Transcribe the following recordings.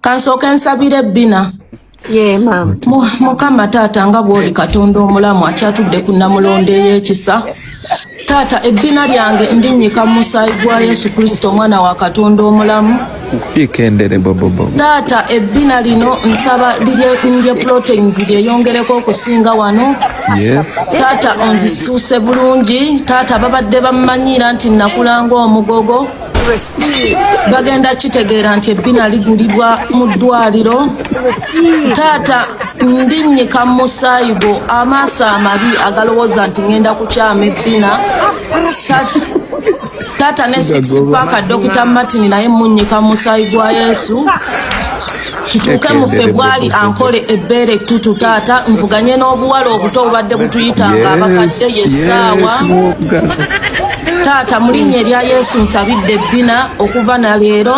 kansooke nsabire ebbina mukama taata nga bwoli katonda omulamu akyatudde ku namulonda ey'ekisa taata ebbina lyange ndinyika mu musaayi gwa yesu kristo omwana wa katonda omulamu ikendere bobobo taata ebbina lino nsaba lirye proteins lyeyongereko okusinga wano taata onzisuuse bulungi taata babadde bammanyira nti nakulanga omugogo bagenda kitegeera nti ebbina ligulibwa mu ddwaliro taata ndinnyika mu musaayi gwo amaaso amabi agalowooza nti ŋenda kukyama ebbina taata ne six paaka dokita martin naye munyika musayi gwa yesu kituuke mu febwali ankole ebbeere ettutu taata nvuganye n'obuwala obuto obubadde butuyitanga abakadde yesaawa taata mulinnya erya yesu nsabidde ebbina okuva na leero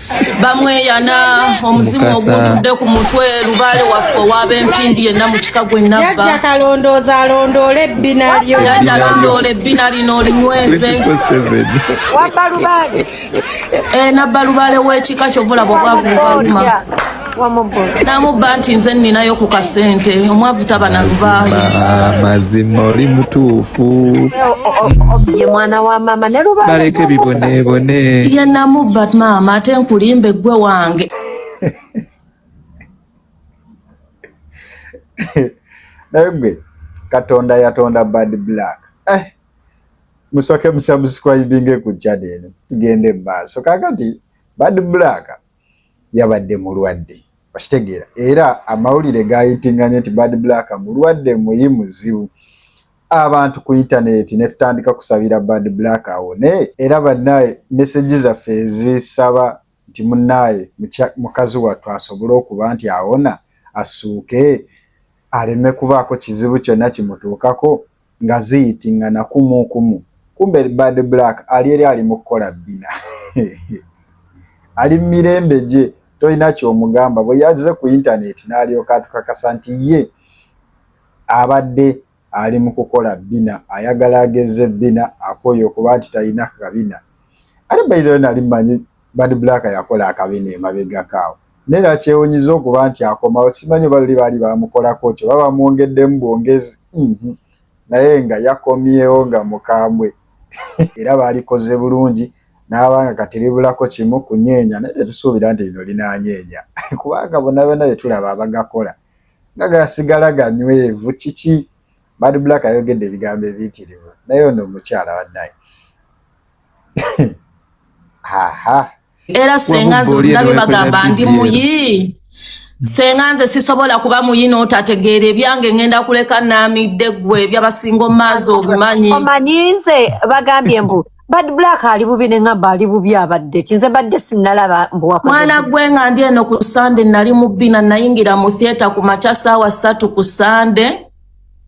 bamweyana omuzimu oguntudde ku mutwe lubaale waffe owaaba empindi yenna mu kika gwe nabba kalondooza alondoola ebbina lyo yajja alondoola ebbina lino olinyweze wabba lubaale eh, nabba lubaale w'ekika kyovulaba obwavu bubaluma namubba nti nze ninayo ku kasente omwavu taba nalubaaamazima oli mutuufu ye mwana wa mama nebaleke bibonebone ye namubba maama ate nkulimba eggwe wange naye gwe katonda yatonda bad black eh, musoke musamusikuayibinge ku channel tugende mu maaso kakati bad black yabadde mulwadde okitegeera era amawulire gayitinganye nti bad black mulwadde muyi muzibu abantu ku intaneti netutandika kusabira bad black awone era banaye meseji zaffe ezisaba nti munaye mukazi wattu asobole okuba nti awona asuuke aleme kubaako kizibu kyonna kimutuukako nga ziyitingana kumu kumu kumbe bad black ali eri ali mukukola bbina ali mumirembe gye tolina kyomugamba bwe yaze ku intaneti n'alyoka atukakasa nti ye abadde ali mu kukola bbina ayagala agezze bbina akoye okuba nti talina kabina ate baideo nali manyi bad black yakola akabina emabegakaawo Naye nakyewunyiza okuba nti akomawo simanyi oba luli baali bamukolako kyo oba bamwongeddemu bwongezi mhm. naye nga yakomyewo nga mukambwe era baalikoze bulungi n'aba nga kati libulako kimu kunyeenya naye tetusuubira nti lino linanyeenya kubanga bona byonna bye tulaba abagakola nga gasigala ganywevu kiki bad black ayogedde ebigambo ebiyitirivu naye ono omukyala wanaye era senga nze ndabye bagamba ndi muyi senga nze sisobola kuba muyi n'otategeera ebyange ngenda kuleka naamidde ggwe ebyabasinga omumaazi obimanyi omanyi nze bagambye mbu bad black ali bubi ne ngamba ali bubi abadde kinze badde sinalaba mwana gwe nga ndi eno ku sande nali mubbina nayingira mu theatre ku makya saawa ssatu ku sande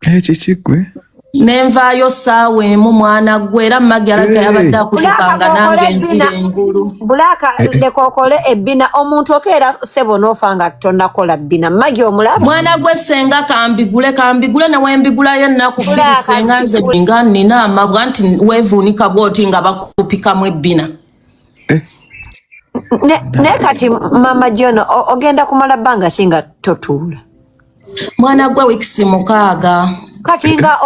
ekyo kigwe nenvaayo saawa emu mwana gwe era magi alabika yabadde akutukanga nange nzira engulu bulaaka eh, eh. leka okole ebbina omuntu okeera sebo noofa nga tonakola bbina magi omulaba mwana gwe senga kambigule kambigule newembigulayo ennaku bbiri senga nze nga nina amabwa nti wevuunika bwoti nga bakupikamu ebbina eh. naye kati mama jona ogenda kumala bbanga ki nga totuula mwana gwe wikisi mukaaga kati nga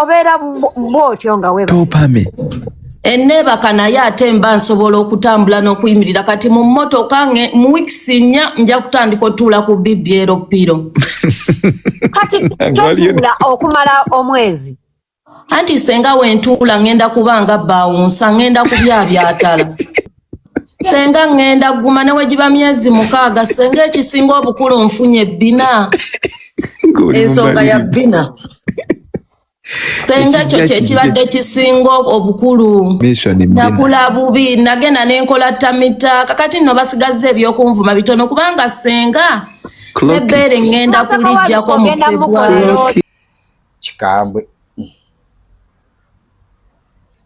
obeera bwotyo nga webapame enneebaka naye ate mba nsobola okutambula n'okuyimirira kati mu mmotoka mu wikisi nnya nja kutandika otuula ku bibyero piro kati totuula okumala omwezi anti senga wentuula ngenda kuba nga bawunsa ngenda kubyabyatala senga ngenda guma newegiba myezi mukaaga senga ekisinga obukulu nfunye bina ensonga ya bina senga ekyo kyekibadde kisinga obukulu nakula bubi nagenda nenkola tamita kakati nno basigazza ebyokunvuma bitono kubanga senga ebeere ngenda kulijjako mufebwa kikambwe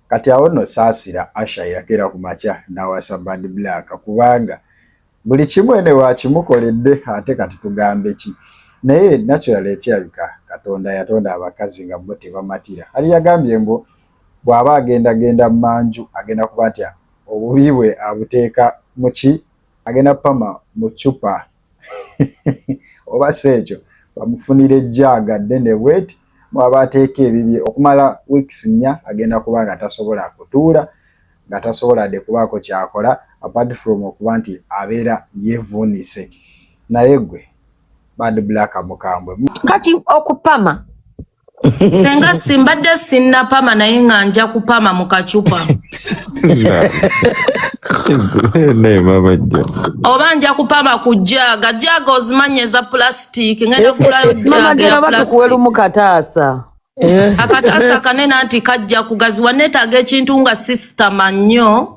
kati awo no saasira asha yakeera ku makya nawasa bad black kubanga buli kimu ene wakimukoledde ate kati tugambe ki naye natural ekyabika katonda yatonda abakazi nga bo tebamatira ali yagambye mbu bw'aba agenda genda manju agenda kuba nti obubi bwe abuteeka muki agenda pama mu cupa oba si ekyo bamufunira ejjaaga ddene bweti mwaba ateeka ebibye okumala weeks nnya agenda kuba nga tasobola kutuula nga tasobola de kubaako kyakola apart from okuba nti abeera yevuunise naye gwe bad black mukambwe kati okupama senga simbadde sinnapama naye nga nja kupama mu kacupa naye mama jjo oba nja kupama ku jaaga jaaga ozimanya eza pulasitiiki ngenda kulayo mama jaaga gera ya batukuwe pulasitiiki lumu kataasa akataasa kanene anti kajja kugaziwa neetaaga ekintu nga sisitama nnyo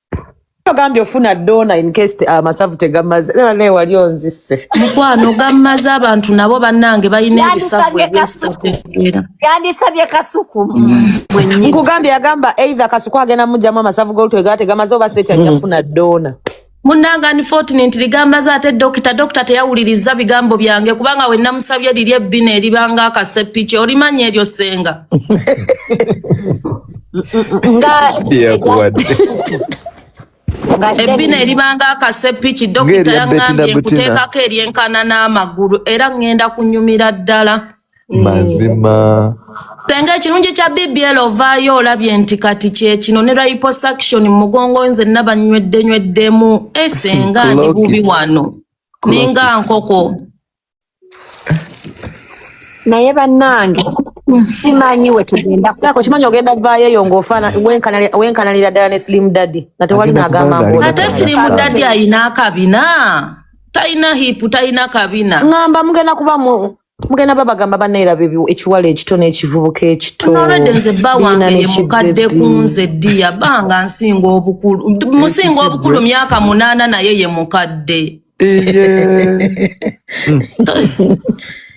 ogambye ofuna dona in case te- amasavu tegamaze era naye wali onzise mukwano gammaze abantu nabo bannange balina ebisavu Yandisabye ebyesitategeera yandisabye kasuku mwennyini nkugambye yagamba either kasuku agenda mujjamu amasavu golutwe gaa tegamaze oba seti ajja funa dona munnange unfortunately gammaze ate dokita dokita teyawuliriza bigambo byange kubanga we namusabye liri ebbina eribanga akasepiki olimanya eryo senga ebbina eribanga akasepiki dokita yaŋambye nkuteekako eryenkana n'amagulu era ŋŋenda kunyumira ddala mm. mazima senga ekirungi kya bbl ovaayo olabye nti kati kyekino ne liposuction mu mugongo nze nabanyweddeyweddemu esenga eh, ndi bubi wano ninga nkoko naye bannange simanyi wetugendakimanyi ogenda vaayo eyo ngaofana wenkanalira ddala ne slim daddy nga tewali nagamba ate slim daddy ayina akabina talina hipu talina kabina ngamba mugenda kuba mugenda babagamba banaera bebi ekiwala ekito n'ekivubuka ekitorednze bba wange yemukadde kunze ddiya banga nsinga obukulu musinga obukulu myaka munaana naye ye mukadde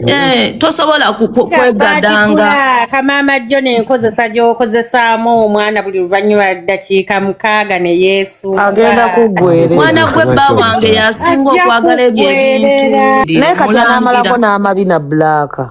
Eh, tosobola kwegadanga kamaama jjo nenkozesa gyokozesaamu omwana buli luvannyuma ddakiika mukaaga ne yesu agenda kuggwerera mwana gwe bba wange yasinga okwagala ebyo ebintu naye kati anaamalako n'amabi na bulaaka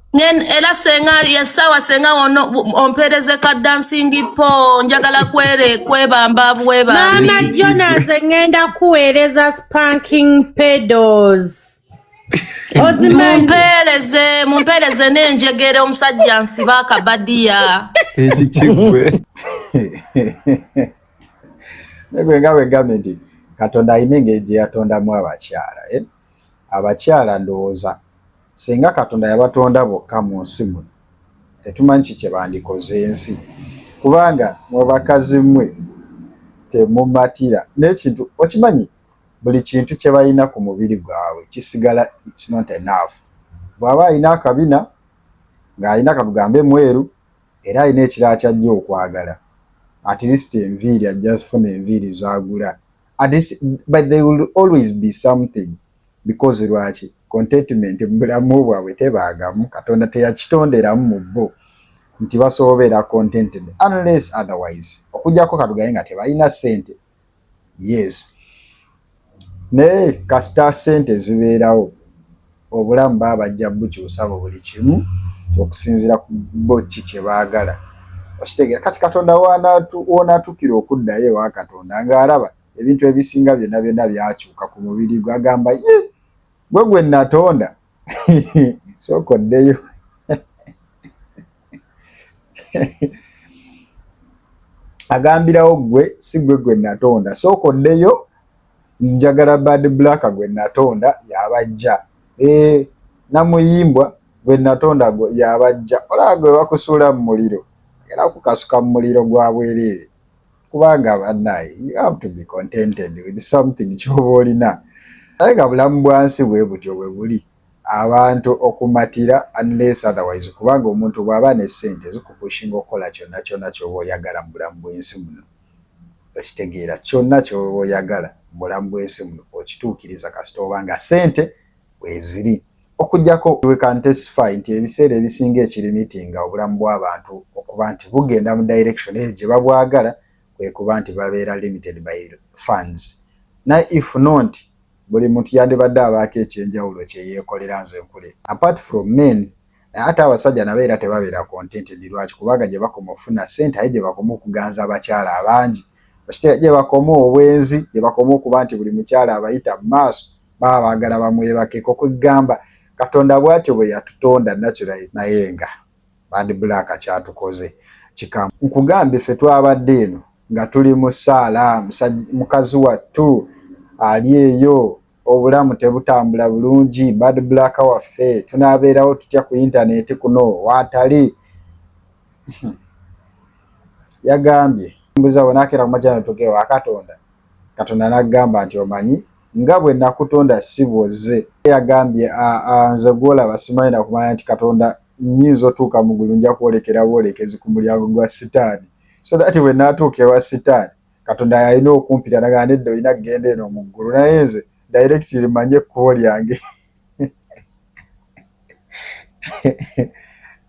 Ngen era senga ya sawa senga ono ompereze ka dancing po njagala kwere kwebamba bweba Mama Jonas ngenda kuwereza spanking pedals mumpereze mumpereze nenjegere omusajja nsiba akabadiya eki kigwe negwe nga wegambe nti katonda alina engeri gye yatondamu abakyala eh? abakyala ndowooza Singa Katonda yabatonda bokka mu nsi muno, tetumanyi ki kye bandikoze ensi, kubanga mwe bakazi mwe temumatira n'ekintu. Okimanyi, buli kintu kye balina ku mubiri gwabwe kisigala it's not enough. Bw'aba alina akabina, ng'alina katugambe mweru, era alina ekirala ky'ajja okwagala, at least enviiri ajja zifuna enviiri z'agula This, but they will always be something because lwaki contentment mu bulamu bwabwe tebaagamu katonda teyakitonderamu mu bo nti basobola obeera contented unless otherwise okujjako katugaye nga tebalina sente yes naye kasita sente zibeerawo Obulamu baba bajja bukyusa mu buli kimu okusinziira ku bo ki kye baagala. Okitegeera? Kati Katonda w'onaatukira okuddayo ewa Katonda ng'alaba ebintu ebisinga byonna byonna byakyuka ku mubiri gwe, agamba, Ye! Gwe gwe nnatonda? Sooka oddeyo. Agambirawo, Gwe si gwe gwe nnatonda. Sooka oddeyo Njagala bad black gwe natonda yabajja ee eh, namuyimbwa gwe natonda gwe yabajja olaba gwe bakusuula mu muliro era kukasuka mu muliro gwa bwereere kubanga banaye you have to be contented with something kyoba olina naye nga bulamu bwansi bwe butyo bwe buli abantu okumatira unless otherwise kubanga omuntu bwaba ne sente zikupushinga okukola kyonna kyonna kyoba oyagala mu bulamu bwensi muno okitegeera kyonna kyoyagala mubulamu bwensi muno okituukiriza kasita oba nga sente weziri okujjako we can testify nti ebiseera ebisinga ekirimitinga obulamu bw'abantu okuba nti bugenda mu direction eyo gye babwagala kwe kuba nti babeera limited by funds naye if not buli muntu yandibadde abaako ekyenjawulo kyeyeekolera nze nkule apart from men ate abasajja nabo era tebabeera contented lwaki kubanga gye bakoma okufuna ssente aye gye bakoma okuganza abakyala abangi okitegeera gye bakoma obwenzi gye bakoma okuba nti buli mukyala abayita mu maaso baba baagala bamwebakeko kwegamba katonda bwatyo bwe yatutonda natural naye nga bandi bulaaka kyatukoze kikamu nkugambye ffe twabadde eno nga tuli mu saala mukazi wattu ali eyo obulamu tebutambula bulungi bad black waffe tunabeerawo tutya ku intaneti kuno watali yagambye mbuza bwenakera kumajana tugewo akatonda katonda nagamba nti omanyi nga bwe nakutonda si bwozze yagambye nze gwolaba simanyi nakumanya nti katonda nyinza otuuka mugulu nja kwolekera bwolekezi ku mulyango gwa sitaani so that bwenatuuka ewa sitaani Katonda yalina okumpita nagamba nedda olina kugenda eno mu ggulu naye nze directly manye ekkubo lyange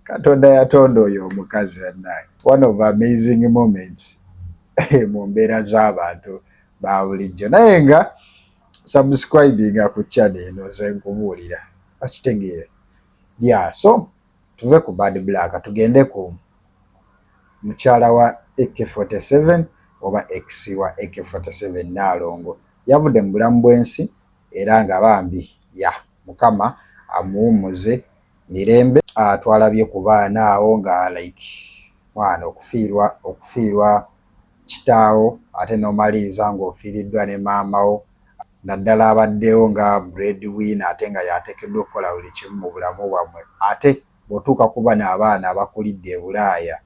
katonda yatonda oyo omukazi bannange one of amazing moments mu mbeera z'abantu ba bulijjo naye nga subscribinga ku chana eno ze nkubuulira okitegeera ya so Tuve ku bad black tugende ku mukyala wa AK47 oba ex wa AK47 Nnaalongo yavudde mu bulamu bw'ensi era nga bambi ya Mukama amuwummuze mirembe. Uh, twalabye ku baana awo nga like mwana okufiirwa okufiirwa kitaawo ate n'omaliriza ng'ofiiriddwa ne maama wo naddala abaddewo nga bread winner ate nga y'ateekeddwa okukola buli kimu mu bulamu bwammwe ate bw'otuuka ku bano abaana abakulidde e Bulaaya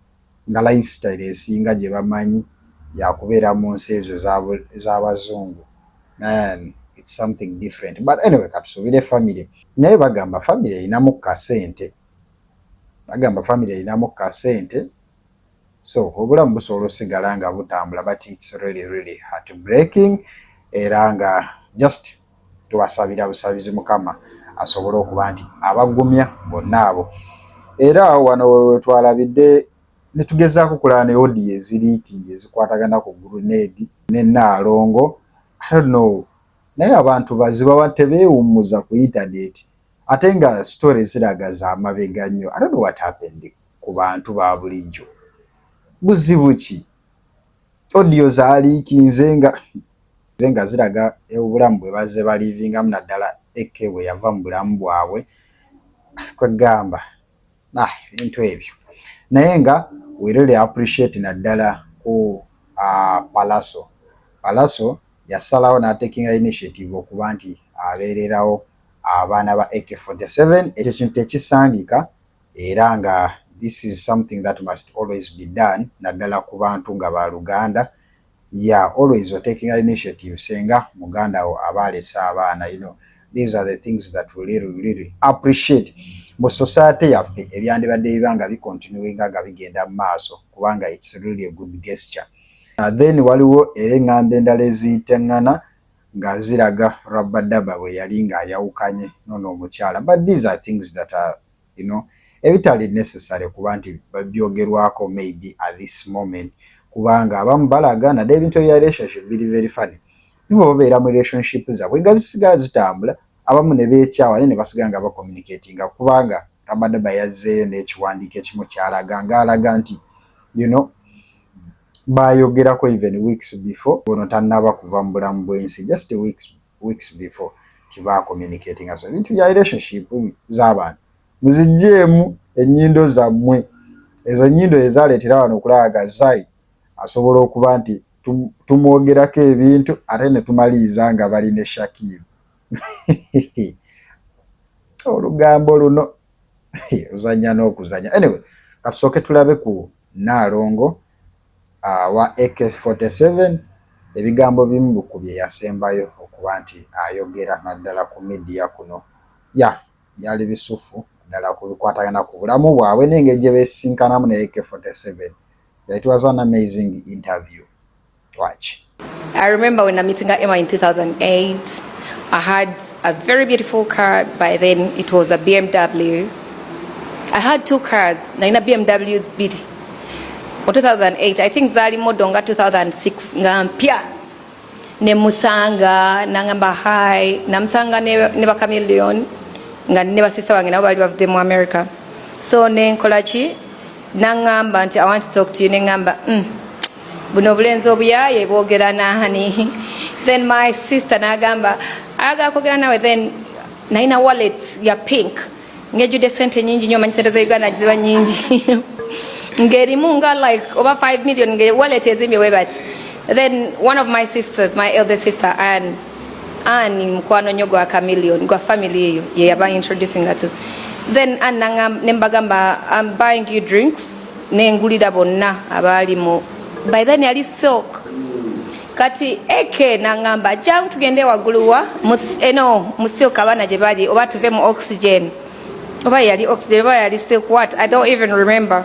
nga life style esinga gye bamanyi ya kubeera mu nsi ezo ez'Abazungu man it's something different but anyway katusuubire family naye bagamba family erinamu kasente bagamba family erinamu kasente so obulamu busobola osigala nga butambula but its really really heart breaking era nga just tubasabira busabizi mukama asobole okuba nti abagumya bonna abo era wano wetwalabidde netugezaako kulaba ne odiyo eziriikingi ezikwatagana ku gurunedi ne naalongo no naye abantu bazibawa tebeewummuza ku intaneti ate nga story ziraga zamabega nnyo i don't know what happened ku bantu ba bulijjo buzibu ki audio zaliikinze nga ze nga ziraga obulamu bwe bazze baliivingamu naddala eke bwe yava mu bulamu bwabwe kwegamba ah, ebintu ebyo naye nga we really appreciate naddala ku uh, palaso palaso yasalawo n'atekinga initiative okuba nti abeererawo abaana ba ak 47 ekyo kintu tekisangika era nga this is something that must always be done naddala ku bantu nga ba luganda ya always o taking initiative senga muganda wo aba alese abaana you know these are the things that we really, really appreciate mu society yaffe ebyandibadde biba nga bicontinuinga nga bigenda mu maaso kubanga its really a good gesture uh, then waliwo era eŋŋambo endala eziyitaŋŋana nga ziraga rabadaba bwe yali ng'ayawukanye nono omukyala but these are things that are you know ebitali necessary kuba nti byogerwako maybe at this moment kubanga abamu balaga nade ebintu ebya relationship biri very funny nibo babeera mu relationship zabwe nga zisigala zitambula abamu ne beekyawa naye ne basigala nga bacommunicatinga kubanga rabadaba yazzeeyo n'ekiwandiiko ekimu kyalaga ng'alaga nti you know baayogerako even weeks before ono tannaba kuva mu bulamu bw'ensi just weeks weeks before kiba communicating aso ebintu bya relationship z'abantu muzijjeemu ennyindo zammwe ezo nnyindo ezaaleetera wano okulaaga zari asobola okuba nti tumwogerako ebintu ate ne tumaliriza nga bali ne shakiiru olugambo luno ozanya n'okuzanya anyway katusooke tulabe ku Nnaalongo wa AK-47 ebigambo bimu ku bye yasembayo okuba nti ayogera naddala ku midiya kuno ya byali bisuffu naddala ku bikwatagana ku bulamu bwabwe n'engeri gye beesisinkanamu ne AK-47 yayitibwa za an amazing interview Watch. I remember when I'm meeting Emma in 2008, I had a very beautiful car. By then, it was a BMW. I had two cars. Now in a BMW, it's big. Or 2008, I think Zali Modonga 2006. Ngampia. Ne Musanga, Nangamba High, Namsanga Neba Chameleon, nga ne basista wange nabo bali bavudde mu America. So ne nkola ki nangamba nti i want to talk to you nengamba mm. buno obulenzi obuyaye bwogera nani then my sister nagamba aga kogera nawe then naina wallet ya pink ngejude sente nyingi nyo manyi sente za uganda ziba nyingi ngerimu nga like over 5 million nge wallet ezimbye webati then one of my sisters my elder sister and ani mukwano nnyo gwa chameleon gwa family eyo ye yaba introducing to then anna ne mbagamba am buying you drinks nengulira bonna abaali mu by then yali silk kati eke nangamba jangu tugende waguluwa eno mu silk abaana gye bali oba tuve mu oxygen oba yali oxygen oba yali silk what i don't even remember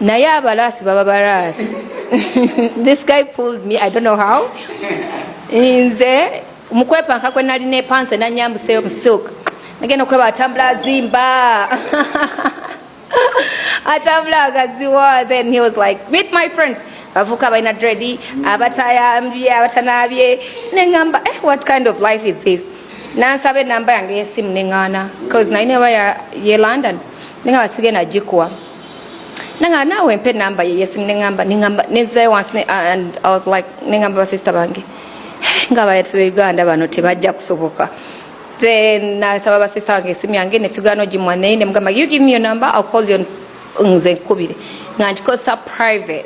naye abalaasi baba balaasi this guy pulled me i don't know how nze mukwepanka kwe nalina epanse nanyambuseyo musilk nagenda okulaba atambula azimba atambula agaziwa then he was like meet my friends bavuka balina dredi abatayambye abatanabye nengamba eh, what kind of life is this nansaba enamba yange yesimu nengana bcause naye neba ye london ninga basige na jikwa nanga nawe mpe namba yeyesi nengamba nengamba nezayo once ne, uh, and i was like nengamba basista bange nga bayatu uganda bano tebajja kusoboka then nasaba basista bange esimu yange netugana ogimwa naye nemugamba you give me your number i'll call you nze nkubire nga nkikosa private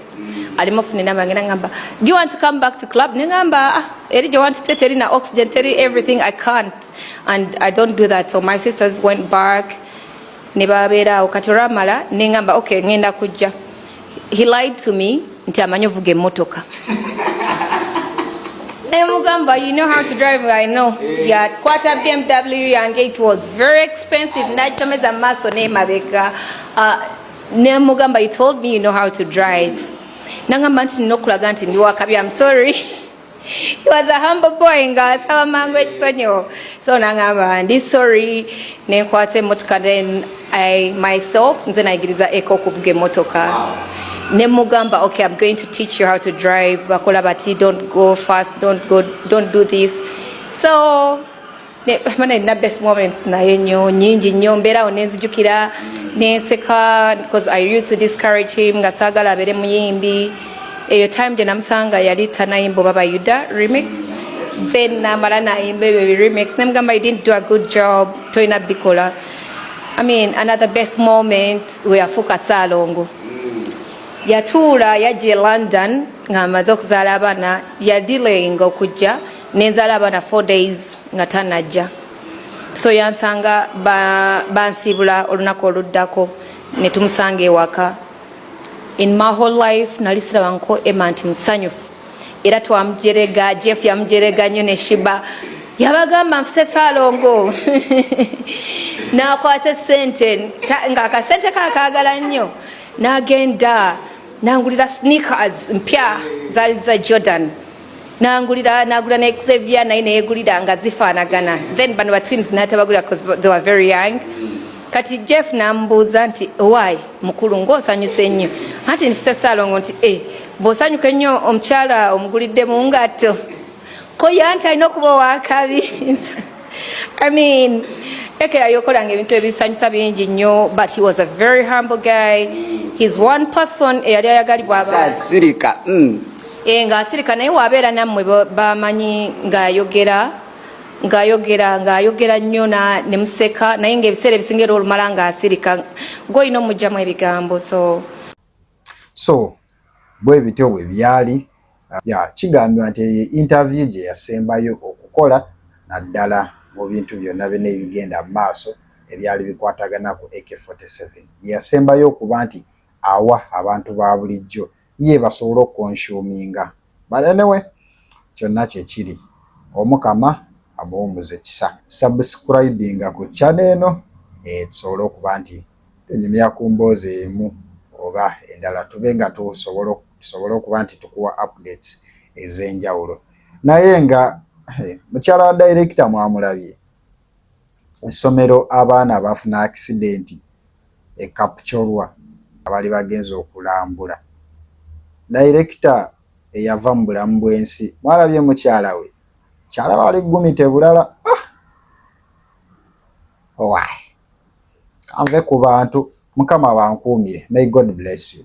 alimu funa enamba ngenda ngamba do you want to come back to club ne ngamba ah, eri gye wantute teri na oxygen teri everything i can't and i don't do that so my sisters went back ne babeera awo kati olwamala ne ngamba ok ngenda kujja he lied to me nti amanyi ovuga emmotoka nemugamba you know how to drive i know eh. yakwata bmw yange it was very expensive nagitomeza mu maaso nemabega uh, nemugamba you told me you know how to drive nangamba nti nina okulaga nti ndi wakabi am sorry He was a humble boy nga asaba mangu ekisonyiwo so nangamba ndi sorry nenkwata emotoka then I myself nze nayigiriza eka okuvuga emotoka nemugamba okay I'm going to teach you how to drive bakola bati don't go fast don't go don't do this so mana erina best moments naye nyo nyingi nnyo mbeerawo nenzijukira nenseka because i used to discourage him nga saagala abeere muyimbi eyo time gye namusanga yali tanayimba oba bayuda remix then namala nayimba ebyo bi remix nemugamba you didn't do a good job tolina bikola i mean another best moment weyafuuka saalongo yatuula yajja e london ng'amaze okuzaala abaana yadilayinga okujja nenzaala abaana four days nga tanajja so yansanga bansiibula ba olunaku oluddako ne tumusanga ewaka in my whole life nali sirabanko ema nti musanyufu era twamujerega jeff yamujerega nnyo ne shiba yabagamba nfuse salongo nakwata esente nga akasente kakagala nnyo nagenda nangulira sneakers mpya zali za jordan nangulira nagula ne Xavier naye neyegulira nga zifaanagana then bano ba twins natabagulira because they were very young kati Jeff nambuuza nti why mukulu ng'osanyusa ennyo anti nfise saalongo nti e eh, bw'osanyuka ennyo omukyala omugulidde mu ngatto ko yanti alina okuba owakabi I mean ekera yokolanga ebintu ebisanyusa bingi nnyo but he was a very humble guy he's one person eyali ayagalibwa abasirika mm. e, nga asirika naye wabeera nammwe bamanyi ng'ayogera ng'ayogera ng'ayogera nnyo ne museka naye ng'ebiseera ebisinga era olumala ng'asirika gw'olina omugyamu ebigambo so so bwe bityo bwe byali ya kigambibwa nti eyo interview gye yasembayo okukola naddala mu bintu byonna byona ebigenda mu maaso ebyali bikwatagana ku ak 47 gye yasembayo okuba nti awa abantu ba bulijjo ye basobole okukonsuminga but anyway kyonna kyekiri omukama amuwumuza ekisa subscribinga ku chana eno eh, tusobole okuba nti tunyumya ku mboozi emu oba endala tube nga tusobole okuba nti tukuwa updates ez'enjawulo naye nga eh, mukyala wa directa mwamulabye essomero abaana abaafuna akisidenti e Kapchorwa abaali bagenze okulambula. Dayirekita eyava mu bulamu bw'ensi mwalabye mukyala we mukyala wali ggumite bulala ah! owaye kanve ku bantu mukama bankuumire may God bless you.